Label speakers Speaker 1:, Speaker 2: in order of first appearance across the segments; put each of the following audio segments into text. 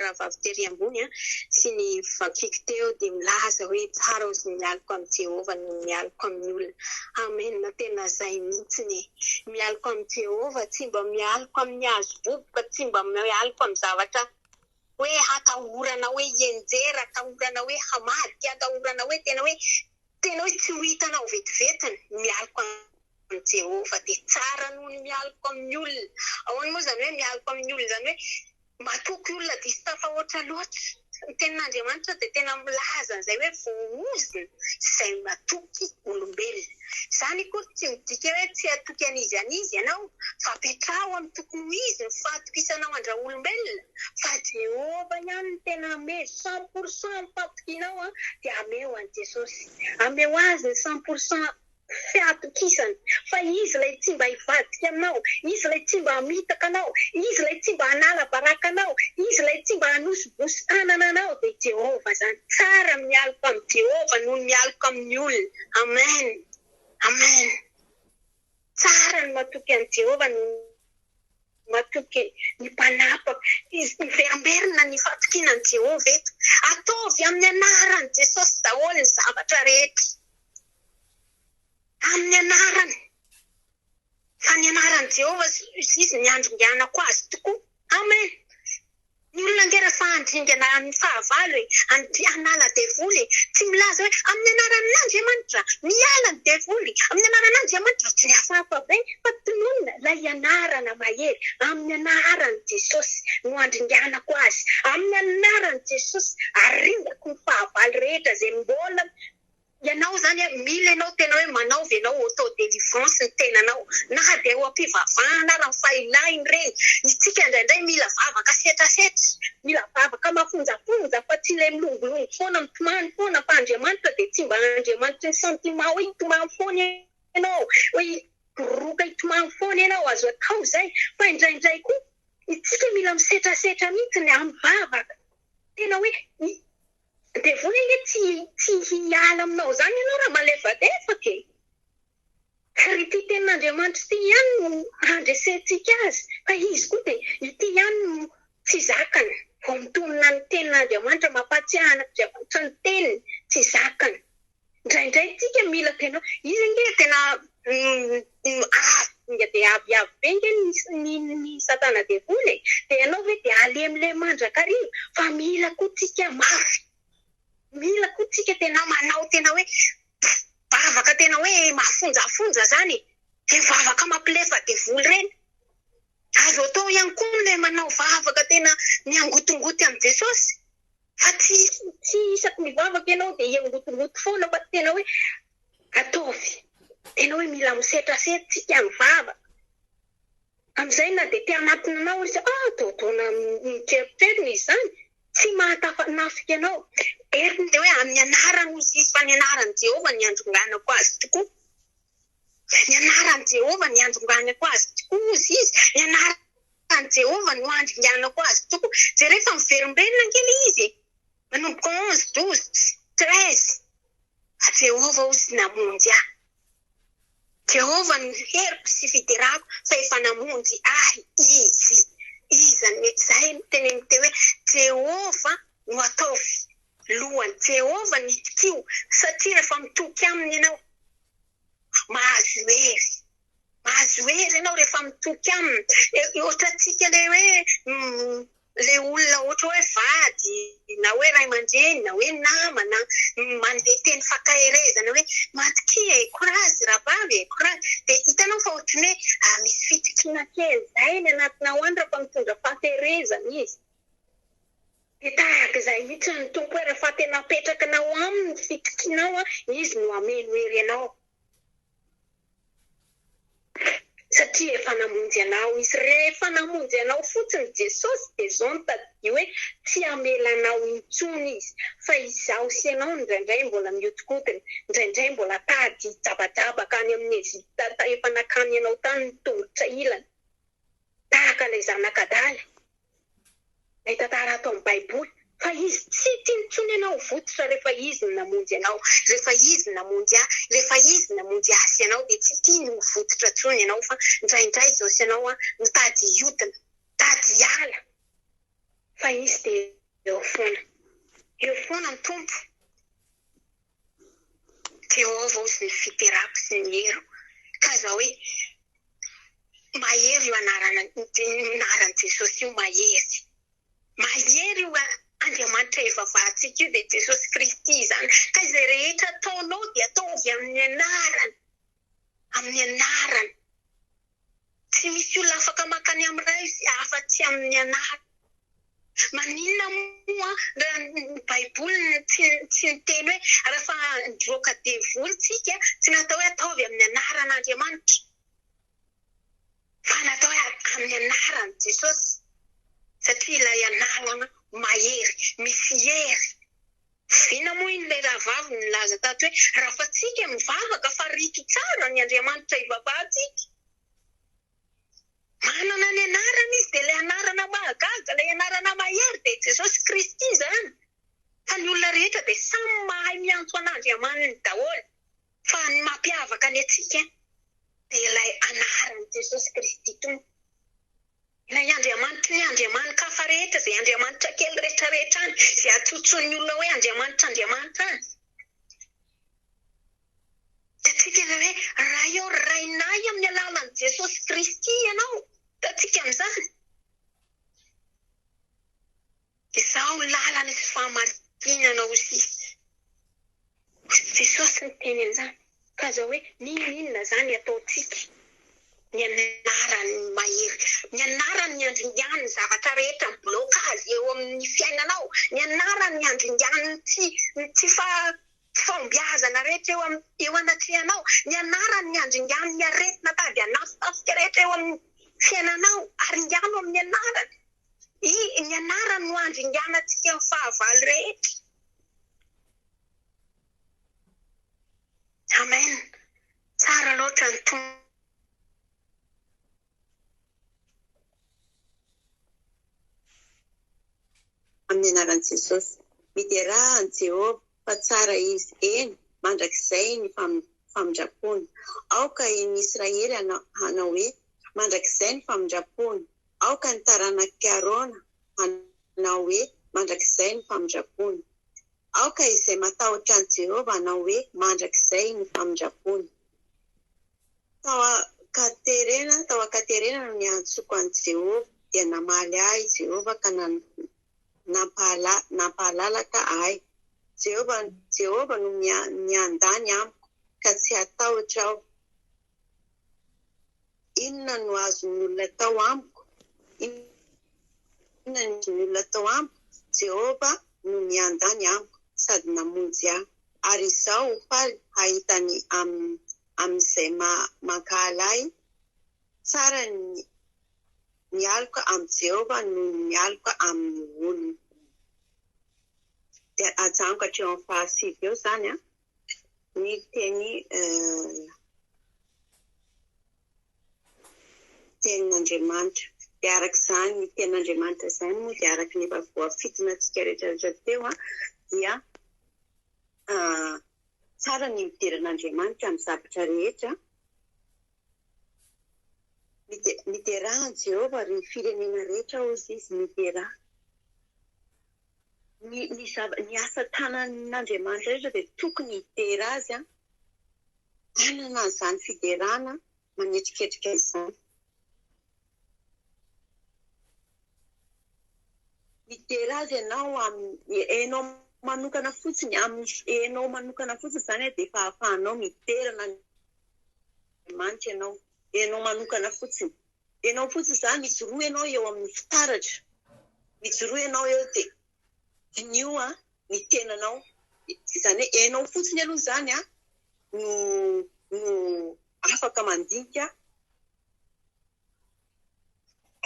Speaker 1: Rahavavy tery ambony an, sy ny vakiko teo dia milaza hoe tsara ozy ny mialoka amin'i Jehovah noho ny mialoka amin'ny olona. Amen tena zay mihitsiny e! Mialoka amin'i Jehovah, tsy mba mialoka amin'ny hazo boboka, tsy mba mialoka amin'ny zavatra hoe hatahorana hoe hienjera, atahorana hoe hamadika, atahorana hoe tena hoe tena hoe tsy ho hitanao vetivety ny mialoka amin'i Jehovah dia tsara noho ny mialoka amin'ny olona. Ahoana moa izany hoe mialoka amin'ny olona izany hoe Matoky olona diso tafahoatra loatra. Ny tenin'Andriamanitra dia tena milaza an'izay hoe voahozona izay matoky olombelona. Izany akory tsy midika hoe tsy hatoky an'izy an'izy ianao, fa apetraho amin'ny tokony ho izy ny fahatokisanao an-dRaolombelona, fa Jehovah ihany no tena hamely cent pour cent ny fahatokianao dia ameo an'i Jesosy. Ameo azy ny cent pour cent sy hatokisana. Fa Izy ilay tsy mba hivadika aminao, Izy ilay tsy mba hamitaka anao, Izy ilay tsy mba hanala baraka anao, Izy ilay tsy mba hanosibosy tanana anao, dia i Jehovah izany. Tsara ny mialoka amin'i Jehovah noho ny mialoka amin'ny olona. Amen! Amen! Tsara ny matoky an'i Jehovah noho ny matoky ny mpanapaka. Miverimberina ny fatokiana an'i Jehovah eto. Ataovy amin'ny anaran'i Jesosy daholo ny zavatra rehetra. Amin'ny anarany, fa ny anaran'i Jehovah sy Izy no iandringanako azy tokoa. Amen! Ny olona ange raha fahandringana amin'ny fahavalo e! Andri hanala devoly e! Tsy milaza hoe, Amin'ny anaran'Andriamanitra! Miala ny devoly! Amin'ny anaran'Andriamanitra! Tsy hafahafa ve fa tononina ilay anarana mahery, Amin'ny anaran'i Jesosy no andringanako azy! Amin'ny anaran'i Jesosy aringako ny fahavalo rehetra izay mbola Ianao izany a, mila ianao tena hoe manaova ianao auto délivrance ny tenanao, na dia eo am-pivavahana ara, fa ilaina ireny. Isika indraindray mila vavaka setrasetra, mila vavaka mafonjafonja, fa tsy ilay milongilongy foana, mitomany foana, fa Andriamanitra dia tsy mba Andriamanitry ny sentiment hoe hitomany foana ianao, hoe hiboroboka hitomany foana ianao, azo atao izay, fa indraindray koa isika mila misetrasetra mihitsy ny amin'ny vavaka, tena hoe. Devoly ange tsy tsy hiala aminao zany ianao raha malefadefaka e! ary ity tenin'Andriamanitra ity ihany no handresentsika azy fa izy koa dia ity ihany no tsy zakany vao mitonona ny tenin'Andriamanitra mampahatsiahan'Andriamanitra ny teniny tsy zakany. Indraindray isika mila tena izy ange tena avo dia avo avo be ange ny satana devoly e! dia ianao ve dia halemilemy mandrakariva fa mila koa tsika mafy mila koa tsika tena manao tena hoe vavaka tena hoe mafonjafonja zany e! dia vavaka mampilefa devoly ireny Azo atao ihany koa ny ilay manao vavaka tena miangotongoty amin'i Jesosy, fa tsy tsy isaky ny vavaka ianao dia hiangotongoty foana fa tena hoe ataovy tena hoe mila misetrasetra, tsy tia mivavaka. Amin'izay na dia te hanatona anao aza izy, ah, atao ataona mitreritreritra izy izany, tsy mahatafanafiky anao. Heveriny dia hoe amin'ny anarany hoy izy, fa ny anaran'i Jehovah no iandronganako azy tokoa. Ny anaran'i Jehovah no iandonganako azy tokoa, hozy izy, ny anaran'i Jehovah no andringanako azy tokoa. Jereo fa miverimberina ange le izy e! Manomboka onze, douze, treize. Fa Jehovah hozy namonjy ahy. Jehovah no heriko sy fiderako, fa efa namonjy ahy Izy. Iza no izay no teny amin'ny teo hoe, Jehovah no ataovy Lohan'i Jehovah ny tsikio, satria rehefa mitoky aminy ianao, mahazo hery. Mahazo hery ianao rehefa mitoky aminy. Ohatrantsika ilay hoe ilay olona ohatra hoe vady na hoe ray aman-dreny na hoe namana manome teny fankaherezana hoe matokia e, courage ravavy e, courage. Dia hitanao fa ohatran'ny hoe misy fitokiana kely izay any anatinao any rehefa mitondra fahaterezana izy. Dia tahaka izay mihitsy ny Tompo hoe raha fa tena apetrakinao aminy ny fitokianao, Izy no hameno hery anao. Satria efa namonjy anao Izy. Rehefa namonjy anao fotsiny Jesosy dia izao no tadidio hoe tsy hamela anao intsony Izy. Fa izaho sy ianao indraindray mbola mihodikodina, indraindray mbola tady hijabajabaka any amin'ny Egypta efa nakany ianao tany ny tongotra ilany, tahaka ilay zanak'adala. Ilay tantara ato amin'ny Baiboly fa izy tsy tia intsony ianao vototra rehefa izy no namonjy anao, rehefa izy no namonjy ahy, rehefa izy no namonjy ahy sy ianao dia tsy tiany ho vototra intsony ianao fa indraindray izao sy ianao mitady hiodina, mitady hiala fa izy dia eo foana, eo foana ny Tompo. Jehovah hoy izay fiterako sy ny heriko. Tazà hoe mahery io anaran'i Jesosy io, mahery. Mahery io Andriamanitra ivavahantsika io dia Jesosy Kristy izany. Ka izay rehetra ataonao dia ataovy amin'ny anarany. amin'ny anarany. Tsy misy olona afaka maka ny amin'ny Ray izy afa-tsy amin'ny anarany. Maninona moa raha ny Baiboly tsy tsy niteny hoe rahefa nivoaka devoly isika tsy natao hoe ataovy amin'ny anaran'Andriamanitra fa natao hoe amin'ny anaran'i Jesosy satria ilay anarana mahery, misy hery. Oviana moa iny ilay rahavavy nilaza tato hoe, Rafatsika mivavaka fa rito tsara ny Andriamanitra ivavahantsika. Manana ny anarana izy dia ilay anarana mahagaga, ilay anarana mahery dia i Jesosy Kristy izany. Fa ny olona rehetra dia samy mahay miantso an'Andriamaniny daholo. Fa ny mampiavaka ny antsika dia ilay anaran'i Jesosy Kristy Tompo. Na i Andriamanitry ny andriamani-kafa rehetra, izay andriamanitra kely rehetrarehetra any, izay antsontson'ny olona hoe andriamanitra andriamanitra any, dia tsy tena hoe, Ray ô, Rainay amin'ny alalan'i Jesosy Kristy Ianao, hitantsika amin'izany. Izaho lalana sy fahamarinana hoy Jesosy niteny an'izany. Ka aza hoe n'inon'inona izany ataontsika, ny anarany no mahery. Ny anarany ny handringan'ny zavatra rehetra mi-bloque azy eo amin'ny fiainanao. Ny anarany ny handringan'ny tsy tsy fahombiazana rehetra eo eo anatrehanao. Ny anarany ny handringan'ny aretina tady hanafitafika rehetra eo amin'ny fiainanao. Aringano amin'ny anarany. I, ny anarany no handringanantsika ny fahavalo rehetra. Amen! Tsara loatra ny Tompo.
Speaker 2: Amin'ny anaran'i Jesosy. Miderà an'i Jehovah, fa tsara izy, eny, mandrakizay ny famindram-pony. Aoka i ny Israely hanao hoe, Mandrakizay ny famindram-pony. Aoka ny taranak'i Arona hanao hoe, Mandrakizay ny famindrampony. Aoka izay matahotra an'i Jehovah hanao hoe, Mandrakizay ny famindrampony. Tao Katerena, tao Ekaterena no niantsoko an'i Jehovah, dia namaly ahy i Jehovah ka nampahala, nampahalalaka ahy. Jehovah, Jehovah no miandany amiko, ka tsy hatahotra aho. Inona no azon'ny olona atao amiko? Inona no azon'ny olona atao amiko? Jehovah no miandany amiko sady namonjy ahy, ary izaho ho faly hahita ny amin'izay mankahala ahy. Tsara ny mialoka amin'i Jehovah noho ny mialoka amin'ny olona. Miteny tenin'Andriamanitra. Dia araka izany tenin'Andriamanitra izany moa dia araka ny efa voafintinantsika rehetrarehetra teo dia tsara ny midera an'Andriamanitra amin'ny zavatra rehetra. Midera an'i Jehovah ry firenena rehetra hoy izy, midera. ny ny zava ny asa tanan'Andriamanitra rehetra dia tokony hidera azy an, hanana an'izany fiderana manetriketrika izany. Midera azy ianao amin'ny enao manokana fotsiny, amin'ny enao manokana fotsiny izany dia efa ahafahanao midera an'Andriamanitra ianao, enao manokana fotsiny. Ianao fotsiny za mijoroa ianao eo amin'ny fitaratra mijoroa ianao eo dia diniho ny tenanao izany hoe ianao fotsiny aloha izany an no no afaka mandinika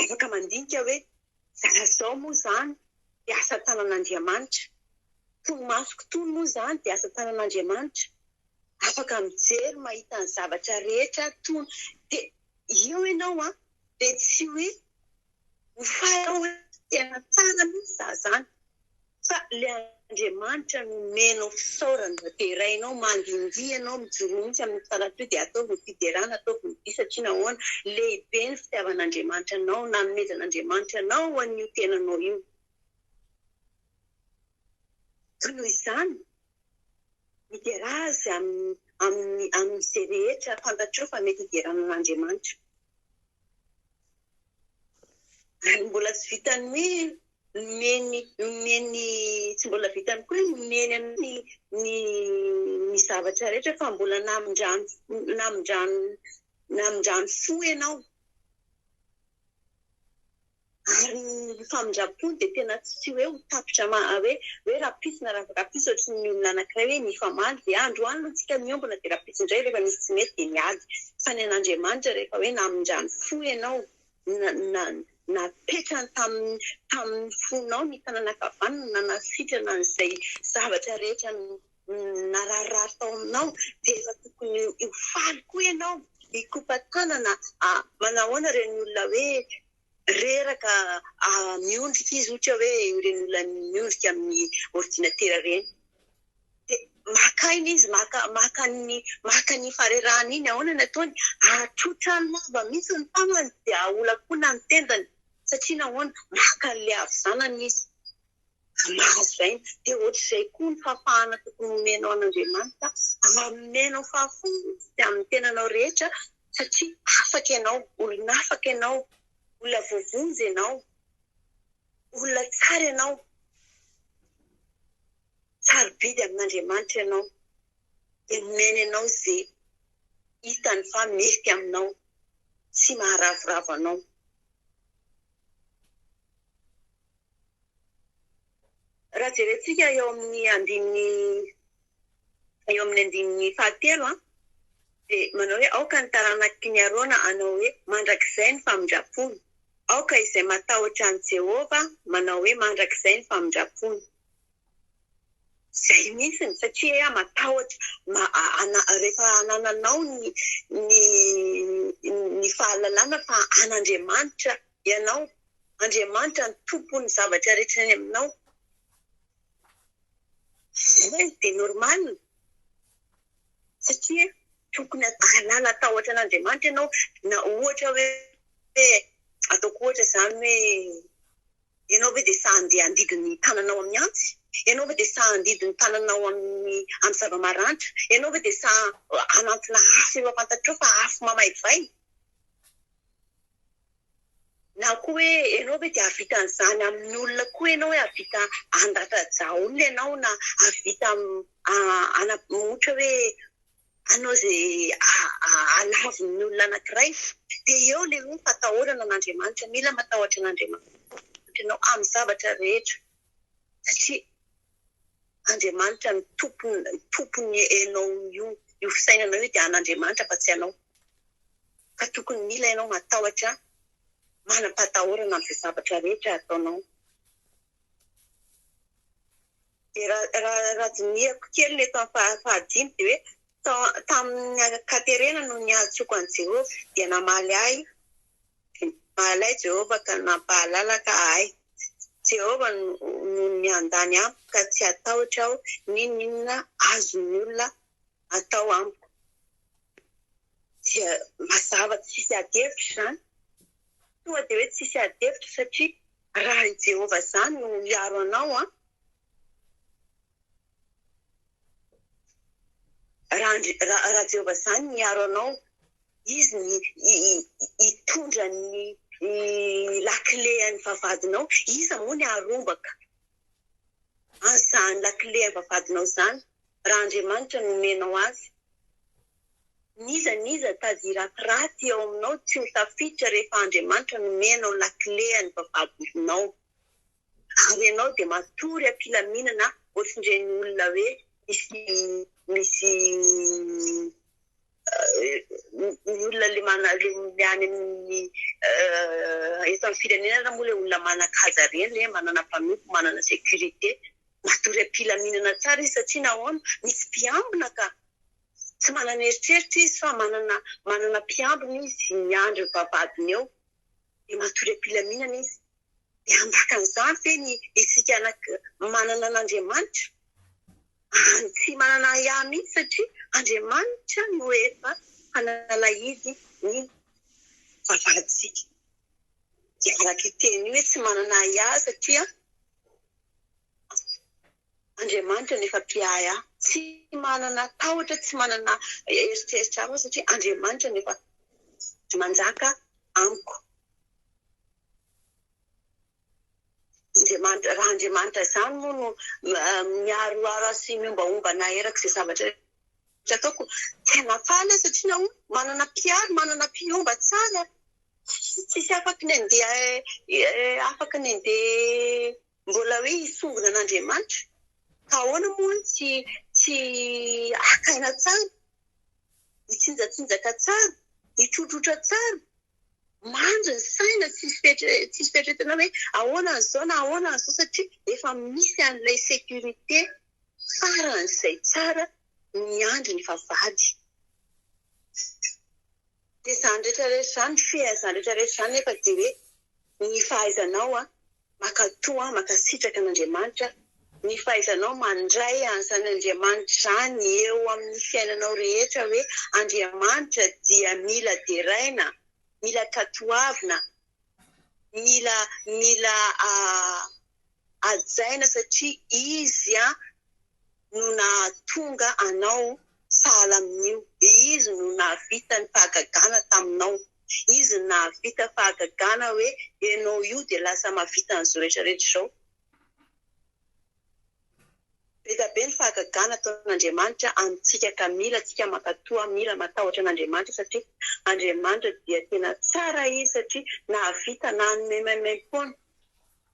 Speaker 2: afaka mandinika hoe za zao moa izany dia asa tanan'Andriamanitra koa ny masoko itony moa izany dia asa tanan'Andriamanitra afaka mijery mahita ny zavatra rehetra toa dia Eo ianao an, dia tsy hoe ho faly hoe tena tsara mihitsy za zany, fa le Andriamanitra no omenao fisaorana, dia derainao, mandindihy ianao, mijoroa mihitsy amin'ny faran'itoa, dia ataovy ny fiderana, ataovy ny dia satria nahoana, lehibe ny fitiavan'Andriamanitra anao, nanomezan'Andriamanitra anao ho an'io tenanao io. Ka noho izany, Hidera azy amin'ny amin'izay rehetra fantatrao fa mety hiderana an'Andriamanitra. Ary mbola tsy vitan'ny hoe nomeny nomeny tsy mbola vitan'ny koa hoe nomeny anao ny ny ny zavatra rehetra fa mbola namindrany namindrany namindrany fo ianao. Ary ny famindram-po dia tena tsy hoe ho tapitra ma hoe hoe rahampitso na rahavakampitso ohatry ny olona anankiray hoe nifamaly dia androany aloha tsika miombona dia rahampitso indray rehefa misy tsy mety dia miady fa ny an'Andriamanitra rehefa hoe namindran'ny fo ianao na napetrany tamin'ny tamin'ny fonao ny tanana ankavanana na nasitrana an'izay zavatra rehetra nararirary tao aminao dia efa tokony ho faly koa ianao hikopa-tanana a! manao ahoana ireny olona hoe reraka miondrika izy ohatra hoe ireny olona miondrika amin'ny ordinatera ireny dia maka aina izy maka maka ny maka ny farerahany iny ahoana ny ataony ahatrotra ny lava mihitsy ny tanany dia aholakolona ny tendany satria nahoana maka an'ilay havizanana izy mahazo aina dia ohatr'izay koa ny fahafahana tokony homenao an'Andriamanitra ary nomenao fahafahana izy amin'ny tenanao rehetra satria afaka ianao, olon'afaka ianao, olona voavonjy ianao, olona tsara ianao, sarobidy amin'Andriamanitra ianao, dia nomeny anao izay hitany fa mety aminao sy maharavoravo anao. Raha jerentsika eo amin'ny andininy eo amin'ny andininy fahatelo an, dia manao hoe, Aoka ny taranaky ny Arona hanao hoe, Mandrakizay ny famindram-pony. Aoka izay matahotra an'i Jehovah manao hoe, Mandrakizay ny famindram-pony. Izay mihitsy ny satria matahotra, rehefa anananao ny ny fahalalana fa an'Andriamanitra. Ianao, Andriamanitra no Tompon'ny zavatra rehetra any aminao. Izay dia normal, satria tokony hahalala tahotra an'Andriamanitra ianao, na ohatra hoe, ataoko ohatra izany hoe, ianao ve dia sahy handeha handidy ny tananao amin'ny antsy? Ianao ve dia sahy handidy ny tananao amin'ny amin'ny zava-maranitra? Ianao ve dia sahy hanantona afo eo am-pantatrao fa afo mamaivay? Na koa hoe ianao ve dia hahavita an'izany amin'ny olona koa ianao hoe hahavita handratra-drà olona ianao na hahavita ohatra hoe hanao izay halavon'ny olona anankiray dia eo ilay hoe fatahorana an'Andriamanitra, mila matahotra an'Andriamanitra ianao amin'ny zavatra rehetra. satria Andriamanitra no tompony enao io io fisainanao io dia an'Andriamanitra fa tsy anao ka tokony mila enao matahotra manam-patahorana am'zay zavatra rehetra ataonao dia raha raha dinihako kely ny eto amin'ny fahadimy dia hoe tamin'ny Katerena no niantsoako an'i Jehovah dia namaly ahy Dia nampahalay ahy Jehovah ka nampahalala ka ahy. Jehovah no miandany amiko ka tsy hatahotra aho n'inon'inona azon'ny olona atao amiko. Dia mazava tsisy adihevitra izany. Tonga dia hoe tsisy adihevitra satria raha i Jehovah izany no hiaro anao an! Raha Andri, raha, raha Jehovah izany no miaro anao, Izy no hi, hi, hi, hitondra ny, ny lakile an'ny vavahadinao, iza moa ny haharombaka an'izany lakile an'ny vavahadinao izany, raha Andriamanitra no omenao azy? N'iza n'iza tady ratiraty ao aminao tsy ho tafiditra rehefa Andriamanitra no omenao lakile an'ny vavahadinao. Ary ianao dia matory am-pilaminana ohatrin'ireny olona hoe misy misy ny olona le mana le any amin'ny eto amin'ny firenena moa le olona manan-kaja ireny le manana mpanompo manana sécurité matory am-pilaminana tsara izy satria nahoana misy mpiambina ka tsy manana eritreritra izy fa manana manana mpiambina izy miandry ny vavahadiny eo dia matory am-pilaminana izy Miambakan'izany ve ny isika manana an'Andriamanitra? Any tsy manana ahiahy mihitsy satria Andriamanitra no efa hanalahidy ny vavahadintsika. Dia araka io teny io hoe tsy manana ahiahy satria Andriamanitra no efa mpiahy ahy. Tsy manana tahotra, tsy manana eritreritra hafa satria Andriamanitra no efa manjaka amiko. Andriamanitra, raha Andriamanitra izany moa no miharoharo ahy sy miombaomba anahy eraky izay zavatra rehetra ataoko, tena faly aho satria nahoana? Manana mpiaro, manana mpiomba tsara, tsisy afaky ny handeha afaky ny handeha mbola hoe hisongona an'Andriamanitra, ka ahoana moa no tsy tsy haka aina tsara, hitsinjatsinjaka tsara, hitrotrotra tsara, mandry ny saina tsy misy fieritreretana hoe ahoana an'izao na ahoana an'izao satria efa misy an'ilay sécurité faran'izay tsara miandry ny vavahady. Dia izany rehetra rehetra izany, fihezany rehetra rehetra izany nefa dia hoe ny fahaizanao an! Makatoa mankasitraka an'Andriamanitra ny fahaizanao mandray an'izany Andriamanitra izany eo amin'ny fiainanao rehetra hoe Andriamanitra dia mila deraina, mila katoavina, mila mila hajaina satria izy an, no nahatonga anao sahala amin'io, dia Izy no nahavita ny fahagagana taminao. Izy no nahavita fahagagana hoe ianao io dia lasa mahavita an'izao rehetra rehetra izao. Be dia be ny fahagagana ataon'Andriamanitra amintsika ka mila tsika mankatoa, mila matahotra an'Andriamanitra satria Andriamanitra dia tena tsara Izy satria nahavita nanome maimaim-poana.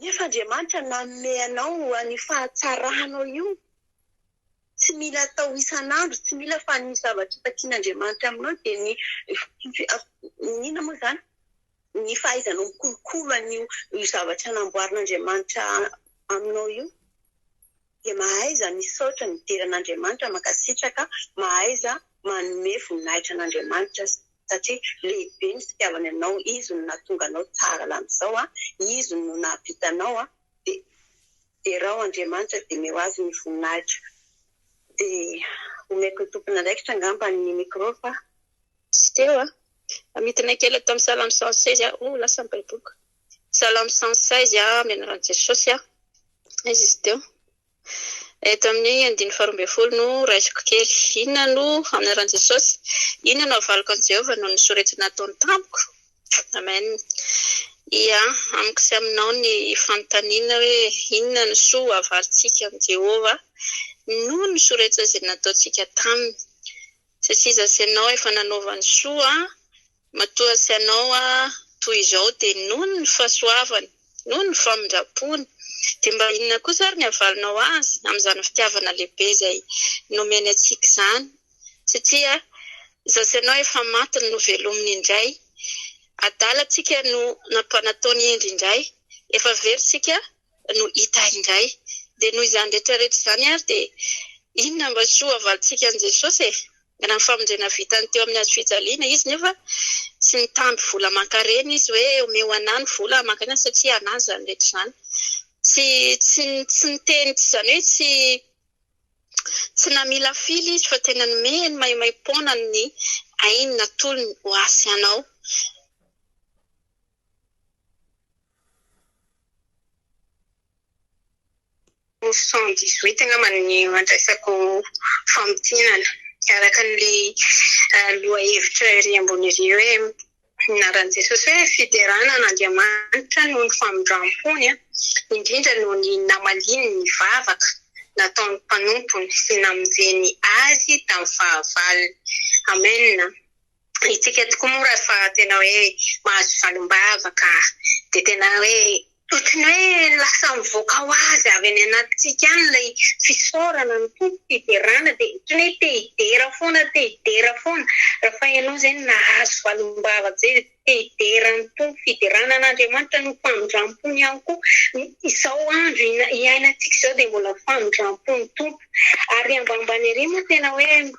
Speaker 2: Nefa Andriamanitra nanome anao an'io fahatsaranao io. Tsy mila atao isan'andro, tsy mila fa ny zavatra efa tian'Andriamanitra aminao dia ny ny inona moa izany? ny fahaizanao mikolokolo an'io zavatra namboarin'Andriamanitra aminao io. dia mahaiza misaotra midera an'Andriamanitra mankasitraka mahaiza manome voninahitra an'Andriamanitra satria lehibe ny fitiavany anao izy no nahatonga anao tsara lamizao a izy no nahavita anao a dia derao Andriamanitra dia meo azy ny voninahitra dia omeko ny tompon'andraikitra angamba ny micro fa tsy teo a midina kely ato amin'ny salamo cent seize aho oh lasa ny baiboliko. Salamo cent seize a amin'ny anaran'i Jesosy a izy izy teo. Eto amin'ny andininy faharoa ambin'ny folo no raisiko kely. Inona no amin'ny anaran'i Jesosy? Inona no havaliko an'i Jehovah noho ny soritany ataony tamiko? Amen. Ia, amiko sy aminao ny fanontaniana hoe inona no soa ho avalintsika amin'i Jehovah noho ny soritana izay nataontsika taminy. Satria izaho sy ianao efa nanova ny soa Matoa tsy anao aho toy izao dia noho ny fahasoavany, noho ny famindram-pony, dia mba inona kosa ary ny havalinao azy amin'izany fitiavana lehibe izay nomeny antsika izany? Satria izaho sy ianao efa maty no novelominy indray, adalantsika no nampanatony indry indray, efa very isika no hita indray. Dia noho izany rehetra rehetra izany ary dia inona mba soa havalintsika an'i Jesosy e? Raha ny famonjena vitany teo amin'ny hazo fijaliana izy nefa tsy nitamby vola aman-karena izy hoe omeo anah ny vola aman-karena satria anah izany rehetra izany. Tsy tsy tsy niteny tsy izany hoe tsy tsy namilafila izy fa tena nomeny maimaim-poana ny ainy natolony ho ahy sy anao. Mofo cent dix huit angamba no andraisako famintinana araka an'ilay lohahevitra ery ambony ery hoe ny anaran'i Jesosy hoe fiderana an'Andriamanitra noho ny famindram-pony an, indrindra noho ny namaliany ny vavaka nataon'ny mpanompony sy namonjeny azy tamin'ny fahavalony. Amen. Isika tokoa moa rehefa tena hoe mahazo valim-bava ka dia tena hoe ohatry
Speaker 1: ny hoe lasa mivoaka ho azy avy any anatintsika any ilay fisaorana ny Tompo, fiderana dia ohatry ny hoe te hidera foana, te hidera foana. Rehefa ianao izay no nahazo valim-bava be dia te hidera ny Tompo, fiderana an'Andriamanitra no famindram-pony ihany koa. Izao andro iainantsika izao dia mbola famindram-pon'ny Tompo. Ary ambanimbany ery moa tena hoe.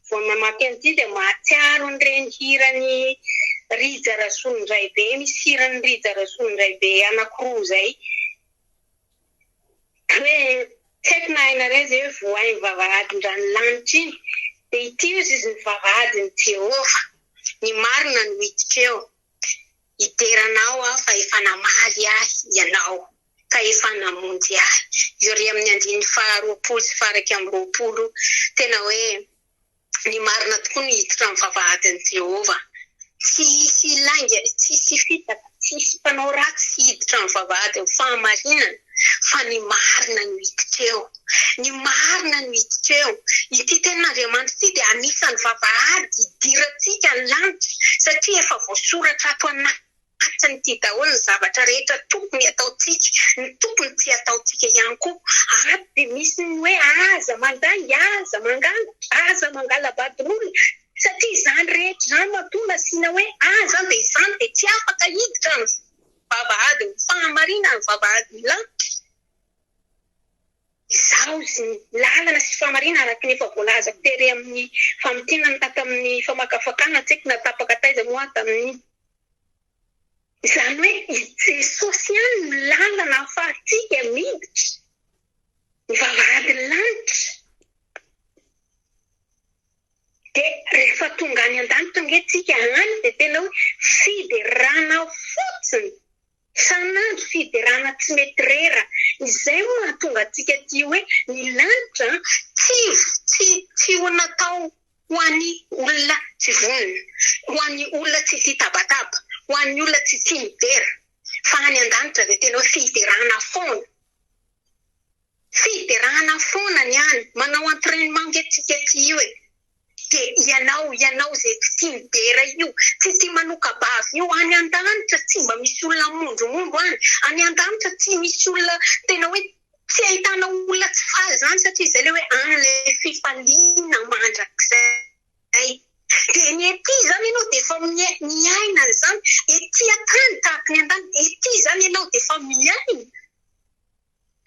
Speaker 1: Vao mamaky an'ity dia mahatsiaro ny renihiran'i Rija Razonondraibe, misy hiran'i Rija Razonondraibe anankiroa izay hoe tsy haiko na hainareo izay hoe voay ny vavahadin-dranolanitra iny, dia ity hozy izy ny vavahadin'i Jehovah, ny marina no hiditra eo, hidera anao aho fa efa namaly ahy ianao. ka efa namonjy ahy. Iori amin'ny andininy faha roapolo sy faha iraika amby roapolo, tena hoe ny marina tokoa no hiditra amin'ny vavahadin'i Jehovah. Tsy hisy lainga, tsy hisy fitaka, tsy hisy mpanao ratsy hiditra amin'ny vavahadin'ny fahamarinana, fa ny marina no hiditra eo. Ny marina no hiditra eo. Ity Tenin'Andriamanitra ity dia anisan'ny vavahady hidirantsika ny lanitra, satria efa voasoratra ato anaty. Tsy ny tia daholo ny zavatra rehetra tokony ataontsika, ny tokony tsy ataontsika ihany koa. Ary dia misy ny hoe aza mandainga, aza mangala, aza mangala-badroly, satria izany rehetra izany matoa nasiana hoe aza dia izany dia tsy afaka hiditra ny vavahadin'ny fahamarinana, ny vavahadin'ny lanitra. Izaho sy ny lalana sy fahamarinana araka ny efa voalazako tery amin'ny famintinana tamin'ny famakafakana, tsy haiko na tapaka taiza moa aho tamin'iny. Izany hoe i Jesosy ihany no lalana ahafahantsika miditra ny vavahadin'ny lanitra. Dia rehefa tonga any an-danitra ange tsika any dia tena hoe fiderana fotsiny. Isan'andro fiderana tsy mety rera. Izay no mahatonga antsika tia hoe ny lanitra tsy tsy tsy ho natao ho an'ny olona tsy vonona, ho an'ny olona tsy tia tabataba, ho an'ny olona tsy tia midera, fa any an-danitra dia tena hoe fiderana foana. Fiderana foana ny any, manao entrainement nge tsika aty io e! de ianao, ianao izay tsy tia midera io, tsy tia manoka-bava io, any an-danitra tsy mba misy olona hamondromondro any, any an-danitra tsy misy olona tena hoe tsy ahitana olona tsy faly izany satria izay ilay hoe any ilay fifaliana mandrakizay, dia ny ety izany ianao dia efa miaina an'izany, ety an-tany tahaka ny an-danitra, ety izany ianao dia efa miaina.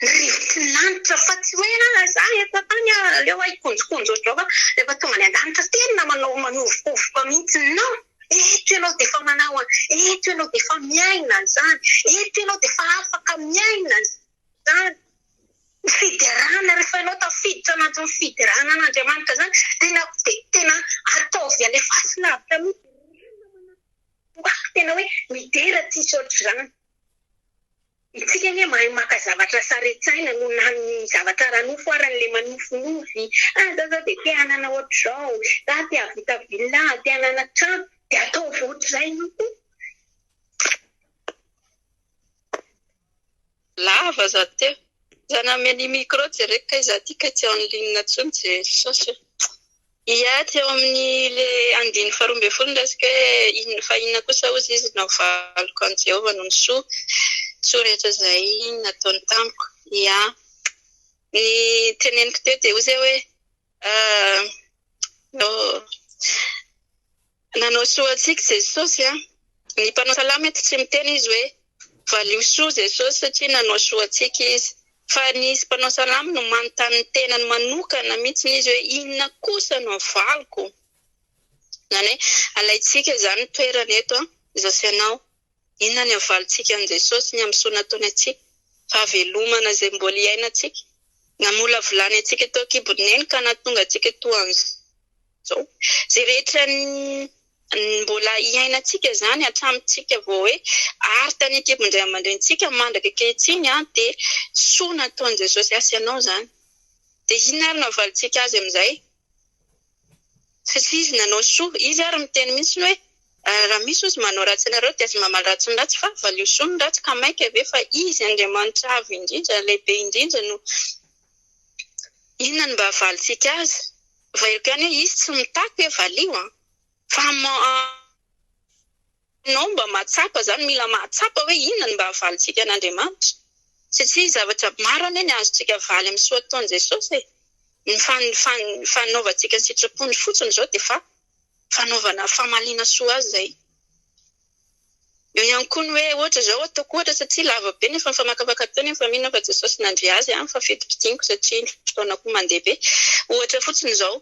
Speaker 1: Rivotsilanitra fa tsy hoe ah za eto an-tany ah aleo ah hikonjokonjo ohatr'izao fa rehefa tonga any an-danitra tena manao manovokovoka mihitsy non! eto ianao dia efa manao an'izany, eto ianao dia efa miaina an'izany, eto ianao dia efa afaka miaina an'izany. Ny fiderana rehefa ianao tafiditra anatin'ny fiderana an'Andriamanitra izany tena dia tena ataovy alefaso lavitra mihitsy dia rehefa manao ho ahy tena hoe midera tsy hisy ohatr'izany. Itsika anie mahay maka zavatra sarintsaina noho na ny zavatra ara-nofo ary an'ilay manofinofy, ah za zao dia te hanana ohatr'izao, za te hahavita villa, te hanana trano, dia ataovy ohatr'izay io koa.
Speaker 3: Lava za teo. Za nanome an'i micro jereko kay za ty kay tsy en ligne intsony je cherche. Hiady eo amin'ny le andininy faharoa ambin'ny folo ny resaka hoe inona fa inona kosa hozy izy no havaliko an'i Jehovah noho ny soa soa rehetra izay nataony tamiko. Ia. Ny teneniko teo dia hozy aho hoe, Aa, oh. Nanao soa antsika Jesosy a! Ny mpanao salamo eto tsy miteny izy hoe valio soa Jesosy satria nanao soa antsika izy fa ny izy mpanao salamo no manontany ny tenany manokana mihitsiny izy hoe inona kosa no avaliko? Izany hoe alaintsika izany ny toerany eto a! Jesosy ianao. Inona ny havalontsika an'i Jesosy ny amin'soa nataony antsika? Fahavelomana izay mbola hiainantsika. Namolavolany antsika teo an-kibon'ny Neny ka nahatonga antsika toa an'izao. Izay rehetra mbola hiainantsika izany hatramintsika vao hoe ary tany an-kibon'ny ray aman-drenintsika mandraka ankehitriny dia soa nataon'i Jesosy. Asa ianao izany. Dia inona ary no havalontsika Azy amin'izay? Satria izy nanao soa. Izy ary miteny mihitsy hoe raha misy ozy manao ratsy anareo dia aza mamaly ratsy ny ratsy fa valio soa ny ratsy ka mainka ve fa izy Andriamanitra avo indrindra, lehibe indrindra no inona no mba havalintsika azy? Availiko ihany hoe izy tsy mitaky hoe valio an! Fa Ianao mba mahatsapa izany, mila mahatsapa hoe inona no mba havalintsika an'Andriamanitra, satria zavatra maro anie ny azontsika avaly amin'ny soa ataon'i Jesosy e! Ny fanaovantsika ny sitrapony fotsiny izao dia efa fanaovana famaliana soa azy izay. Eo ihany koa ny hoe ohatra izao, ataoko ohatra satria lava be nefa mifamakafaka teo nefa mino aho fa Jesosy nandre azy an, fa fidim-pidiniko satria ny fotoana koa mandeha be, ohatra fotsiny izao,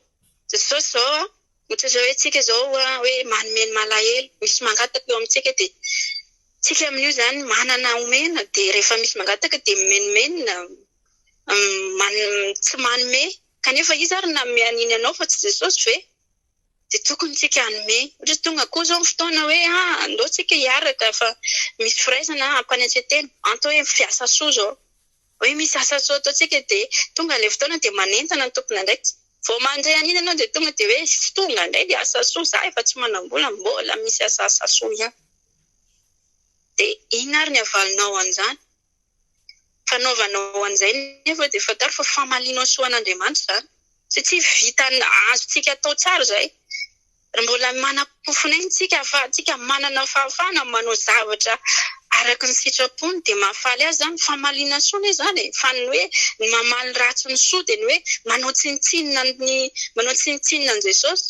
Speaker 3: Jesosy izao an, Ohatra izao hoe tsika izao hoe manome ny malahelo, misy mangataka eo amintsika dia tsika amin'io izany manana omena dia rehefa misy mangataka dia mimenomenona tsy manome kanefa iza ary nanome an'iny anao fa tsy Jesosy ve? dia tokony tsika hanome ohatra tonga koa izao ny fotoana hoe andao tsika hiaraka fa misy firaisana hampanetsetena antao hoe fiasa soa izao Hoe misy asa soa ataontsika dia tonga ilay fotoana dia manentana ny tompon'andraikitra. Vao mandre an'iny ianao dia tonga dia hoe tonga indray ilay asa soa, za efa tsy manam-bola mbola misy asa asa soa ihany. Dia inona ary ny havalinao an'izany? Fanaovanao an'izay nefa dia fantaro fa famalianao soa an'Andriamanitra izany satria vitan'ny azontsika atao tsara izay. Raha mbola manam-po fonenana isika fa isika manana fahafahana manao zavatra araka ny sitrapony dia mahafaly azy izany, famaliana soa anie izany e! Fa ny hoe ny mamaly ny ratsy ny soa dia ny hoe manao tsinontsinona ny manao tsinontsinona an'i Jesosy.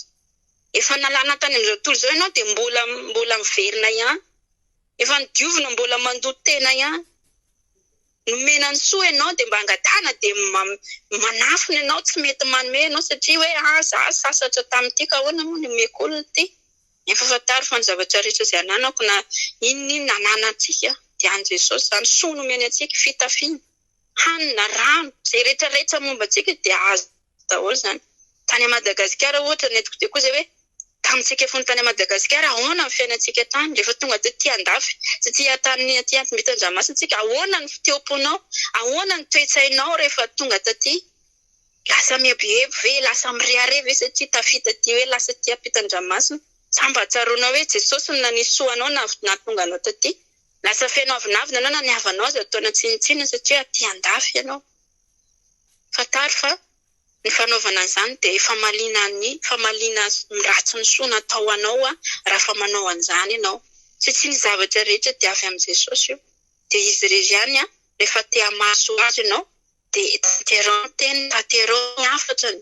Speaker 3: Efa nalana tany amin'izao tontolo izao ianao dia mbola mbola miverina ihany. Efa nodiovina mbola mandoto tena ihany. nomena ny soa ianao dia mba angatahana dia manafina ianao tsy mety manome ianao satria hoe ah za sasatra tamin'ity ka ahoana moa ny omeko olona ity nefa fantaro fa ny zavatra rehetra izay ananako na inona inona ananantsika dia an'i Jesosy izany soa nomeny antsika fitafiana hanina rano izay rehetra rehetra momba antsika dia azo daholo izany. Tany à Madagasikara ohatra ny antoko dia koa izay hoe tamintsika fony tany à Madagasikara ahoana ny fiainantsika tany rehefa tonga tety andafy sy aty tany aty ampimbintan-dranomasina tsika ahoana ny fiteom-ponao ahoana ny toe-tsainao rehefa tonga taty lasa mieboebo ve lasa mirehareha ve satria tafita aty hoe lasa aty ampitan-dranomasina sa mba tsaroanao hoe jesosy no nanisoa anao nahatonga anao taty lasa feno avinavina anao na ny havanao aza ataonao tsinontsinona satria aty andafy ianao Fantaro fa ny fanaovana an'izany dia famaliana ny famaliana ny ratsy ny soa natao ho anao rafa manao an'izany ianao. Satria ny zavatra rehetra dia avy amin'i Jesosy io. Dia Izy irery ihany rehefa te hamaly soa azo ianao dia tanterao ny teniny, tanterao ny hafatran'ny.